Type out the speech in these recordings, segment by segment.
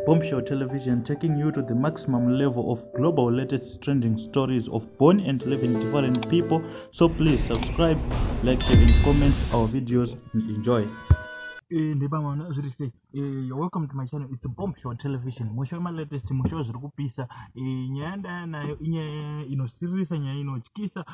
Bombshell Television taking you to the maximum level of global latest trending stories of born and living different people. So please subscribe, like, share, and comment our videos and enjoy. Eh, eh, you're welcome to my channel it's bombshell television musho malatest musho zviri kupisa eh, nyaya ndaya nayo inyaya inosiririsa nyaya inotyisa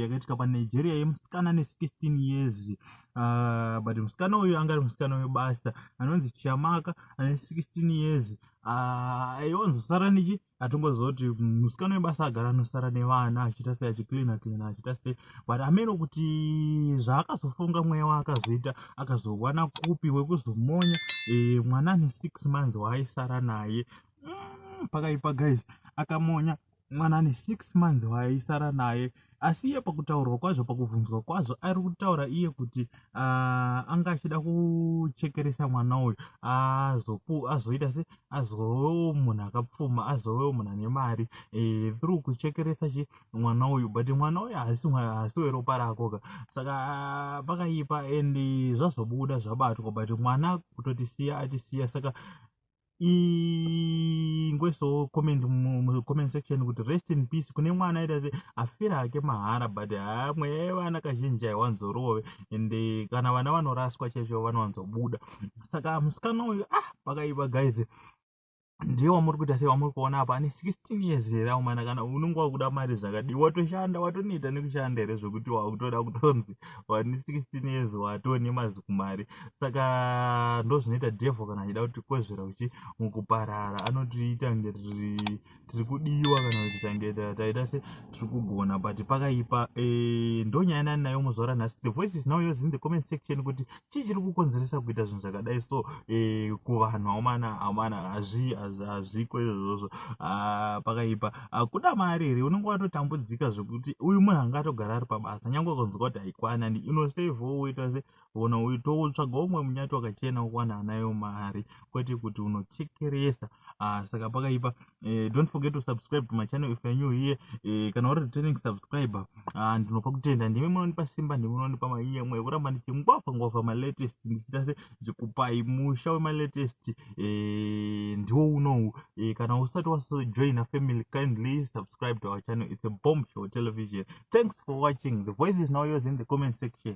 yakaitika panigeria yemusikana ne 16 years Uh, but musikana uyu anga ari musikana webasa anonzi chiamaka ane 16 years ah, aiwanzosara uh, nechi atongoziva kuti musikana webasa agara anosara nevana achiita sei achicleana cleana achiita sei but ameno kuti zvaakazofunga mweya waakazoita akazowana kupi wekuzomonya e, mwana ane six months waaisara naye mm, pakaipa guys akamonya mwana ane six months waaisara naye asi iye pakutaurwa kwazvo pakubvunzwa kwazvo ari kutaura iye kuti uh, anga achida kuchekeresa mwana uyu azoita se azovewo munhu akapfuma azovewo munhu ane mari e, through kuchekeresa chi mwana uyu but mwana uyu haasi haasi weropa rakoka saka ah, pakaipa and zvazobuda zvabatwa but mwana kutotisiya atisiya saka ingoisawo comment mucomment section kuti rest in peace kune mwana aita se afira hake mahara but haa mweya yevana kazhinji haiwanzorove and eh, kana vana vanoraswa chaizvo vanowanzobuda saka musikana uyu ah pakaipa guys ndiye wamuri kuita sei wamuri kuona apa ane 16 years here aumana kana unenge wakuda mari zvakadii watoshanda watonoita nekushanda here zvekuti wakutoda kutonzi wani 16 years watoo nemazikumari saka ndozvinoita devho kana achida kuti kwezvera uchi mukuparara anotiita nge tiri kudiwa kana kuti tange taita se tiri kugona but pakaipa e, ndonyaya nani nayo muzoora nhasi the voice is now yours in the comment section kuti chii chiri kukonzeresa kuita zvinhu zvakadai so eh, kuvanhu aumana aumana hazviko izvozvo ah, pakaipa akuda ah, mari here unenge watotambudzika zvekuti uyu munhu anga atogara ari pabasa nyange ukanzwa kuti haikwana and inosevho woita se ona uitotsvaga umwe munyati wakachena ukwana anayo mari kwete kuti unochekeresa ah, saka pakaipa Uh, don't forget to subscribe to my channel if you're new here uh, kana uri returning subscriber uh, ndinopa kutenda ndimi munonipa simba ndimi munonipa mayemwe ekuramba ndichingwavha ngwavha malatest ndichiita se ndikupai musha wemalatest uh, ndiwo unowu uh, kana usati wasojoina family kindly subscribe to our channel it's a bomb show television thanks for watching the voice is now yours in the comment section